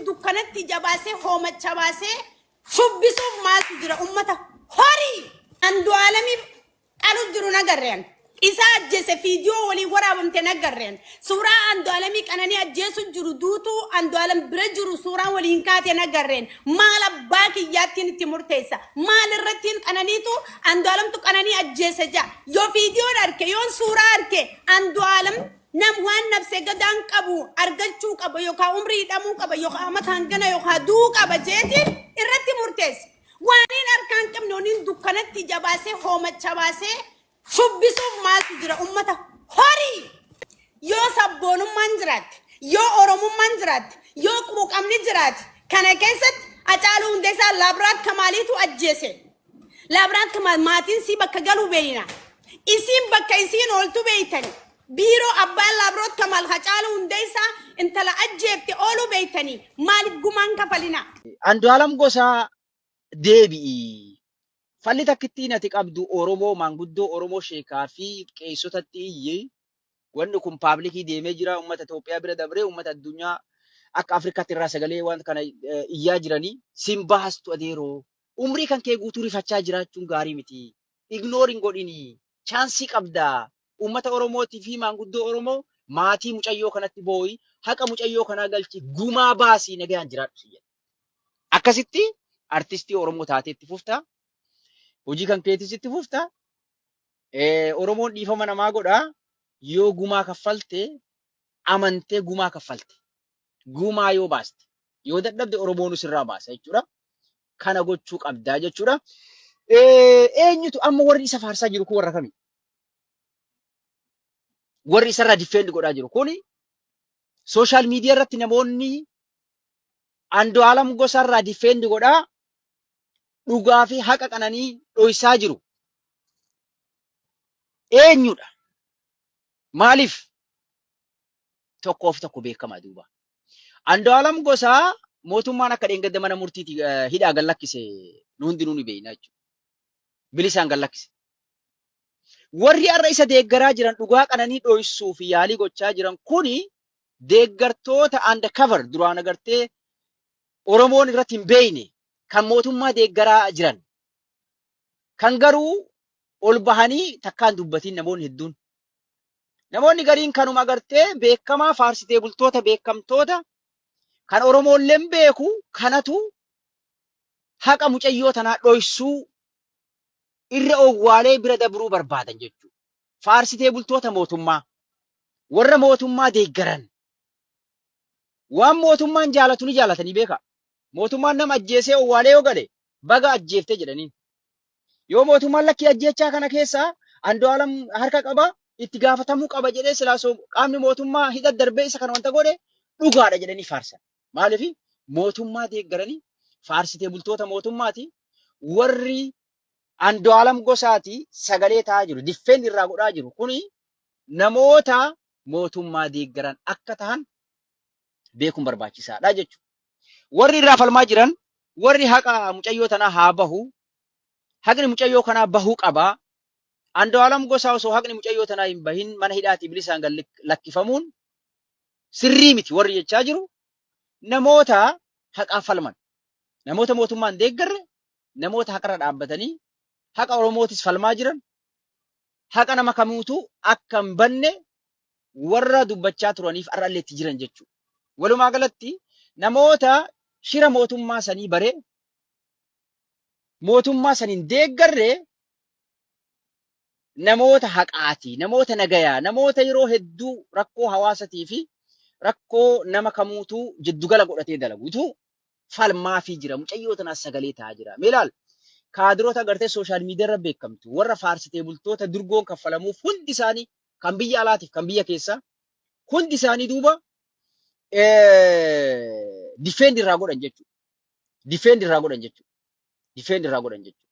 dukkanatti ija baasee hoomacha baasee shubbisuuf maaltu jira ummata horii andu'aalamiif qalu jiru nagarreen isa ajjeese fiidiyoo waliin waraabamte nagarreen suuraa andu'aalamii qananii ajjeesu jiru duutuu andu'aalam bira jiru suuraan waliin kaate nagarreen maal abbaa kiyyaattiin itti murteessa maal irrattiin qananiitu andu'aalamtu qananii ajjeese jaa yoo fiidiyoon arke yoon suuraa arke andu'aalam Nam waan nabse gadaan qabu argachuu qaba yookaan umrii hidhamuu qaba yookaan amata hangana yookaan du'uu qaba jeetiin irratti murteesse. Waaniin harkaan qabne waniin dukkanatti ija baasee hoomacha baasee shubbisuuf maaltu jira ummata horii yoo sabboonummaan jiraatte yoo oromummaan jiraatte yoo quuqamni jiraate kana keessatti Hacaaluu Hundeessaa Laabraat Kamaaliitu ajjeese Labrank ma- maatiin sii bakka galuu beeyna. Isiin bakka isiin ooltu beeytani. Biiroo abbaan laabroot kamaal hacaaluu hundeessaa intala ajjeefte ooluu beeytanii maaliif gumaan kafalinaa? Andu'aalam Gosaa deebi'i. Falli takkittiin ati qabdu Oromoo, maanguddoo Oromoo sheekaa fi qeessotatti iyyi. Wanni kun paablikii deemee jira. Uummata Itoophiyaa bira dabree uummata addunyaa akka Afrikaatti irraa sagalee waan kana eh, iyyaa jiranii sin baastu adeeroo. Umrii kan kee guutuu rifachaa jiraachuun gaarii miti. Ignoor hin godhinii. Chaansii qabdaa. Uummata Oromootii fi maanguddoo Oromoo maatii mucayyoo kanatti boo'i. Haqa mucayyoo kanaa galchi. Gumaa baasii nagayaan jiraadhu sin jedha. Akkasitti artistii Oromoo taatee itti fufta. Hojii kan keetis itti fufta. Eh, Oromoon dhiifama namaa godha yoo gumaa kaffalte amantee gumaa kaffalte gumaa yoo baaste yoo dadhabde Oromoonu sirraa baasa jechuudha. Kana gochuu qabdaa jechuudha. Eh, Eenyutu amma warri isa faarsaa jiru kun warra kami? Warri isarraa diffeendi godhaa jiru kuni sooshaal miidiyaa irratti namoonni Andu'aalam Gosaarraa difeendi godhaa dhugaa fi haqa qananii dhoysaa jiru eenyudha? Maaliif? Tokkoof tokko beekama duuba. Andu'aalam Gosaa mootummaan akka dheengadda mana murtiiti eh, hidhaa gad lakkise nu hundinuu ni beekna jechuudha. Bilisaan gad lakkise. Warri har'a isa deeggaraa jiran dhugaa qananii dhoysuu fi yaalii gochaa jiran kuni deeggartoota under cover duraan agartee Oromoon irratti hin beeyne kan mootummaa deeggaraa jiran kan garuu ol bahanii takkaan dubbatiin namoonni hedduun. Namoonni gariin kanuma agartee beekamaa faarsitee bultoota beekamtoota kan Oromoolleen beeku kanatu haqa mucayyoo tanaa dhoysuu irra owwaalee bira dabruu barbaadan jechuudha. Faarsitee bultoota mootummaa, warra mootummaa deeggaran, waan mootummaan jaalatu ni jaalatanii beekaa. Mootummaan nama ajjeesee owwaalee yoo gale baga ajjeeftee jedhaniin. Yoo mootummaan lakkii ajjeechaa kana keessaa Andu'aalam harka qaba itti gaafatamuu qaba jedhee silaa qaamni mootummaa hidha darbee isa kana wanta godhe dhugaadha jedhanii faarsan. Maaliif mootummaa deeggaranii faarsitee bultoota mootummaati warri Andu'aalam Gosaati sagalee ta'aa jiru. Diffeen irraa godhaa jiru. Kuni namoota mootummaa deeggaran akka tahan beekuun barbaachisaadha jechuudha. Warri irraa falmaa jiran warri haqa mucayyoo tanaa haa bahu. Haqni mucayyoo kanaa bahuu qaba. Andu'aalam Gosaa osoo haqni mucayyoo tanaa hin bahin mana hidhaatii bilisaan gad lakkifamuun sirrii miti warri jechaa jiru namoota haqaaf falman namoota mootummaan deeggarre namoota haqarra dhaabbatanii haqa Oromootis falmaa jiran haqa nama kamiitu akka hin banne warra dubbachaa turaniif har'allee itti jiran jechuudha. Walumaa galatti namoota shira mootummaa sanii baree mootummaa saniin deeggarre namoota haqaati, namoota nagayaa, namoota yeroo hedduu rakkoo hawaasatii fi rakkoo nama kamuutuu jiddugala godhatee dalagutu falmaafii jira. Mucayyoo tanaas sagalee ta'aa jira. Mee ilaali. Kaadirota agartee sooshaal miidiyaa irra beekamtu, warra faarsitee bultoota durgoon kaffalamuuf hundi isaanii kan biyya alaatiif kan biyya keessaa hundi isaanii duuba difeendi irraa godhan jechuudha. Difeendi irraa godhan jechuudha. Difeendi irraa godhan jechuudha.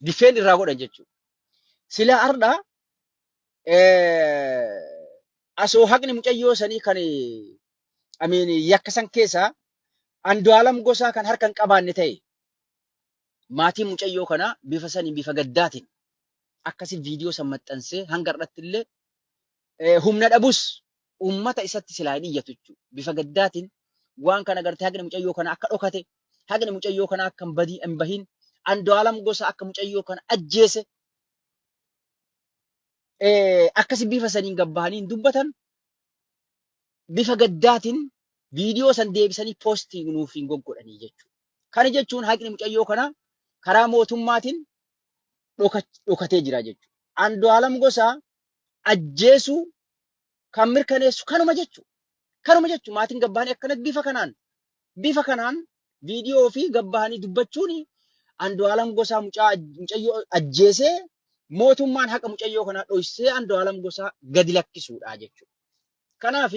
Difeen irraa godhan jechuudha. Sila har'a asoo haqni mucayyoo sanii kan amiin yakka san keessaa Andu'aalam gosaa kan harka hin qabaanne ta'e maatiin mucayyoo kanaa bifa saniin bifa gaddaatiin akkasi viidiyoo san maxxansee hanga irratti illee humna dhabus ummata isatti silaa hin iyyatu jechuudha. Bifa gaddaatiin waan kana agartee haqni mucayyoo kana akka dhokate, haqni mucayyoo kana akka hin badii- hin bahin, Andu'aalam Gosaa akka mucayyoo kana ajjeese eh, akkasi bifa saniin gabbahanii hin dubbatan. Bifa gaddaatiin viidiyoo san deebisanii poostii nuuf hin goggodhanii jechuudha. Kana jechuun haqni mucayyoo kana karaa mootummaatiin dhoka- dhokatee jira jechuudha. Andu'aalam Gosaa ajjeesuu kan mirkaneessu kanuma jechu kanuma jechu maatiin gabbaanii akkanatti bifa kanaan bifa kanaan viidiyoo fi gabbaanii dubbachuun Andu'aalam Gosaa mucaa mucayyoo ajjeesee mootummaan haqa mucayyoo kanaa dhoysee Andu'aalam Gosaa gadi lakkisuudha jechuudha. Kanaaf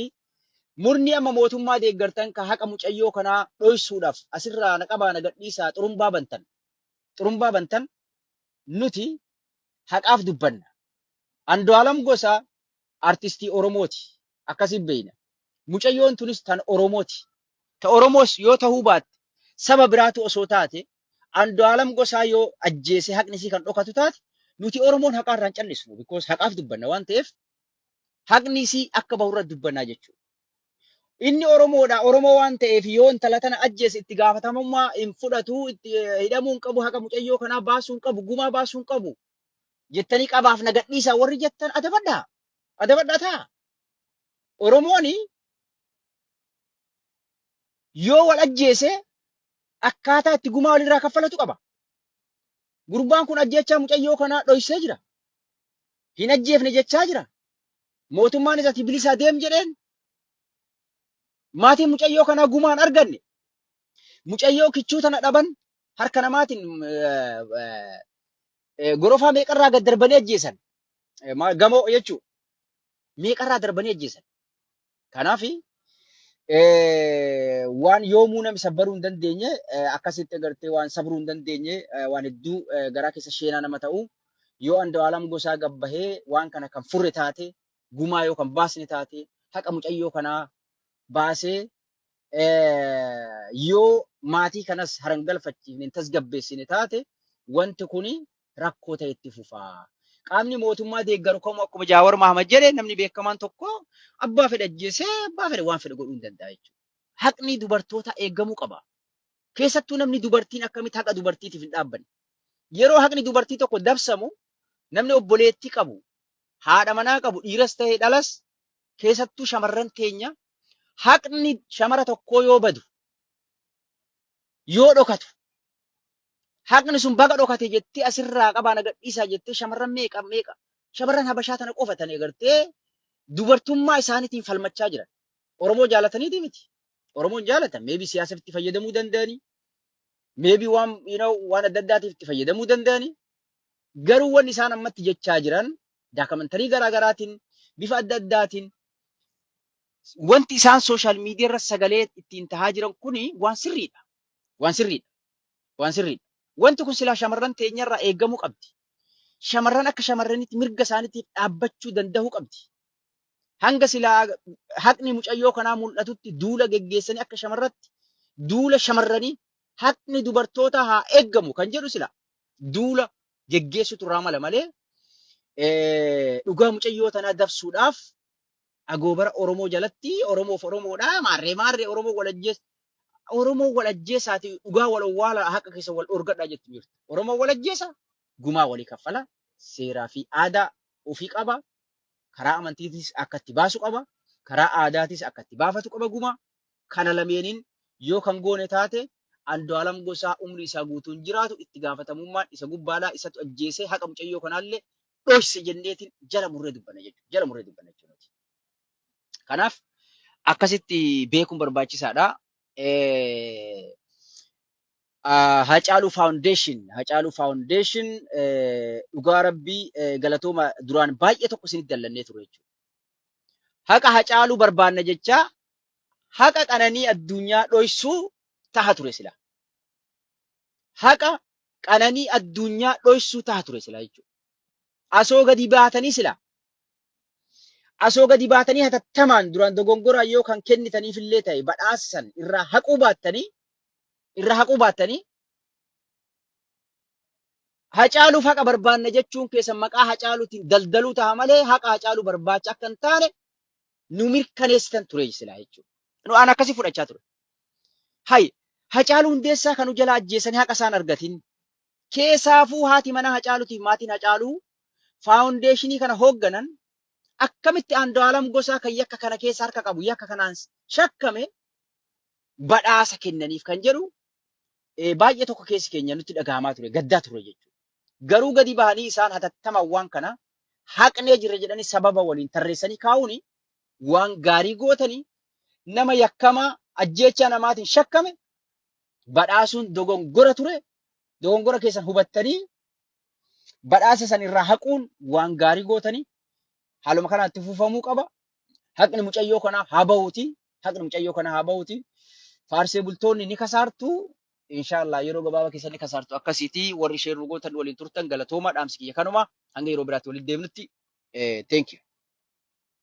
murni amma mootummaa deeggartan ka haqa mucayyoo kanaa dhoysuudhaaf asirraa na qabaa na gadhiisaa xurumbaa bantan xurumbaa bantan nuti haqaaf dubbanna Andu'aalam Gosaa artistii Oromooti. Akkasiin beekna. Mucayyoon tunis tan Oromooti. Ta Oromoos yoo tahuu baatte saba biraatu osoo taate Andu'aalam Gosaa yoo ajjeese haqni isii kan dhokatu taate nuti Oromoon haqaa irraa hin callisnu because haqaaf dubbanna waan ta'eef haqni isii akka bahu irra dubbannaa jechuudha. Inni Oromoodha Oromoo waan ta'eef yoo intala tana ajjeese itti gaafatamummaa hin fudhatu itti hidhamuu hin qabu haqa mucayyoo kanaa baasuu hin qabu gumaa baasuu hin qabu. jettanii qabaaf na gadhiisaa warri jettan adabadhaa. Adabadhaa ta'a. Oromoon yoo wal ajjeese akkaataa itti gumaa walirraa kaffalatu qaba. Gurbaan kun ajjeechaa mucayyoo kanaa dhoysee jira. Hin ajjeefne jechaa jira. Mootummaanis ati bilisaa deem jedheen. Maatiin mucayyoo kanaa gumaan arganne. Mucayyoo kichuu tana dhaban harka namaatiin gorofaa meeqarraa gad darbanii ajjeesan. Gamoo jechuu meeqarraa darbanii ajjeesan. Kanaaf waan yoomuu namni sabbaruu hin dandeenye akkasitti agartee waan sabruu hin dandeenye waan hedduu garaa keessa sheenaa nama ta'u yoo Andu'aalam Gosaa gabbahee waan kana kan furre taate gumaa yoo kan baasne taate haqa mucayyoo kanaa baasee yoo maatii kanas harangalfachiifne hin tasgabbeessine taate wanti kun rakkoo ta'e itti fufa. Qaamni mootummaa deeggaru kamuu akkuma Jaawar Mahamad jedhe namni beekamaan tokko abbaa fedhe ajjeesee abbaa fedhe waan fedhe godhuu hin danda'a jechuudha. Haqni dubartootaa eegamuu qaba. Keessattuu namni dubartiin akkamitti haqa dubartiitiif hin dhaabbanne. Yeroo haqni dubartii tokko dabsamu namni obboleettii qabu haadha manaa qabu dhiiras ta'e dhalas keessattuu shamarran teenya haqni shamara tokkoo yoo badu yoo dhokatu haqni sun baga dhokate jettee asirraa qabaa na gadhiisaa jettee shamarran meeqa meeqa shamarran habashaa tana qofa tana egartee dubartummaa isaaniitiin falmachaa jiran oromoo jaalataniiti miti oromoon jaalatan meebii siyaasaaf itti fayyadamuu danda'anii meebii waan you know, waan adda addaatiif itti fayyadamuu danda'anii garuu wanni isaan ammatti jechaa jiran daakamantarii garaa garaatiin bifa adda addaatiin wanti isaan sooshaal miidiyaa irra sagalee ittiin tahaa jiran kuni waan sirriidha. Waan sirriidha. Waan sirriidha. Wanti kun silaa shamarran teenyarraa eegamuu qabdi. Shamarran akka shamarranitti mirga isaaniitiif dhaabbachuu danda'uu qabdi. Hanga silaa haqni mucayyoo kanaa mul'atutti duula geggeessanii akka shamarratti duula shamarranii haqni dubartootaa haa eegamu kan jedhu silaa duula geggeessutu irraa mala malee eh, dhugaa mucayyoo tanaa dabsuudhaaf agoobara Oromoo jalatti Oromoof Oromoodha maarree maarree Oromoo wal ajjees Oromoo wal ajjeesaati dhugaa wal owwaala haqa keessa wal dhorgadhaa jettu jirtu. Oromoo wal ajjeesa gumaa walii kaffala seeraa fi aadaa ofii qaba karaa amantiitis akka itti baasu qaba karaa aadaatis akka itti baafatu qaba gumaa kana lameeniin yoo kan goone taate Andu'aalam Gosaa umrii isaa guutuu hin jiraatu, itti gaafatamummaan isa gubbaadha, isatu ajjeese, haqa mucayyoo kanaallee dhoyse jenneetiin jala murree dubbanna jechuudha. Jala murree dubbanna jechuudha nuti. Kanaaf akkasitti beekuun barbaachisaadha. Hacaaluu Foundation, Hacaaluu Foundation dhugaa rabbii galatooma duraan baay'ee tokko isinitti dallannee ture jechuudha. Haqa Hacaaluu barbaanna jechaa haqa qananii adduunyaa dhoysuu taha ture silaa. Haqa qananii adduunyaa dhoysuu taha ture silaa jechuudha. Asoo gadi baatanii silaa. Asoo gadi baatanii hatattamaan duraan dogongoraan yoo kan kennitaniif illee ta'e badhaasa san irraa haquu baattanii irraa haquu baattanii hacaaluuf haqa barbaanna jechuun keessan maqaa hacaaluutiin daldaluu taha malee haqa hacaaluu barbaacha akka hin taane nu mirkaneessitan ture silaa jechuudha. Nu aan akkasii fudhachaa ture. Hay Hacaaluu Hundeessaa kan nu jala ajjeesanii haqa isaan argatin. Keesaafuu haati manaa Hacaaluutiif maatiin Hacaaluu faawundeeshinii kana hoogganan akkamitti Andu'aalam Gosaa kan yakka kana keessa harka qabu yakka kanaan shakkame badhaasa kennaniif kan jedhu eh, baay'ee tokko keessi keenya nutti dhagahamaa ture gaddaa ture jechuudha. Garuu gadi bahanii isaan hatattamaan waan kana haqnee jirra jedhanii sababa waliin tarreessanii kaa'uun waan gaarii gootanii nama yakkamaa ajjeechaa namaatiin shakkame badhaasuun dogongora ture dogongora keessan hubattanii badhaasa san irraa haquun waan gaarii gootanii haaluma kanaan itti fufamuu qaba. haqni mucayyoo kanaa haa bahuuti haqni mucayyoo kanaa haa bahuuti faarsee bultoonni ni kasaartu inshaallah yeroo gabaabaa keessa ni kasaartu akkasiiti warri ishee rugootan waliin turtan galatoomaa dhaamsi kiyya kanuma hanga yeroo biraatti walitti deemnutti eh, thank you